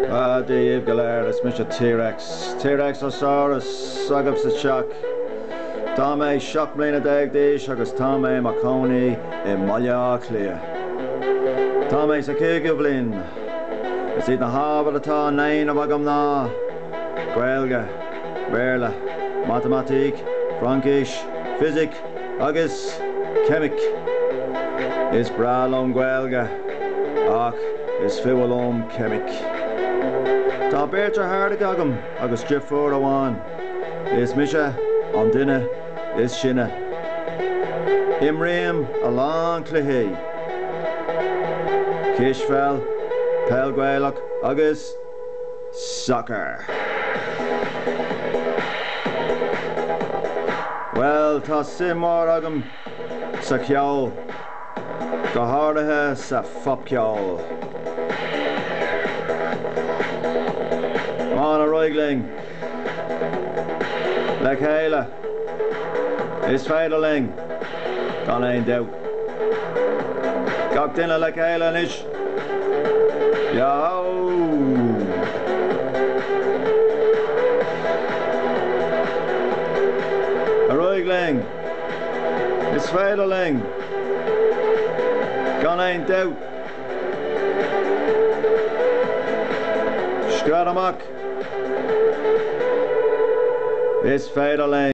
Ah, Dia dhíbh go léir, is mise T-Rex, T-Rex ó Saurus agaibh sa teach. Tá mé seacht mbliana déag d'aois agus tá mé i mo chónaí i mBaile Átha Cliath. Tá mé sa chúigiú bhliain. Is iad na hábhair atá á ndéanamh agam ná, Gaeilge, Béarla, Matamaitic, Fraincis, Fisic, agus Ceimic. Is breá liom Gaeilge ach is fuath liom Ceimic. Tá beirt deartháireacha agam agus driofúr amháin. Is mise an duine is sine. Imrím a lán cluichí, cispheil, peil Gaelach agus. Soccer. Bhuel, tá suim mhór agam sa cheol, go háirithe sa phopcheol. Ar aghaidh linn le chéile, is féidir linn, gan aon dabht. Gach duine le chéile anois! Yahoo! Ar aghaidh linn! Is féidir linn! Gan aon dabht! Scread amach! Is féidir linn!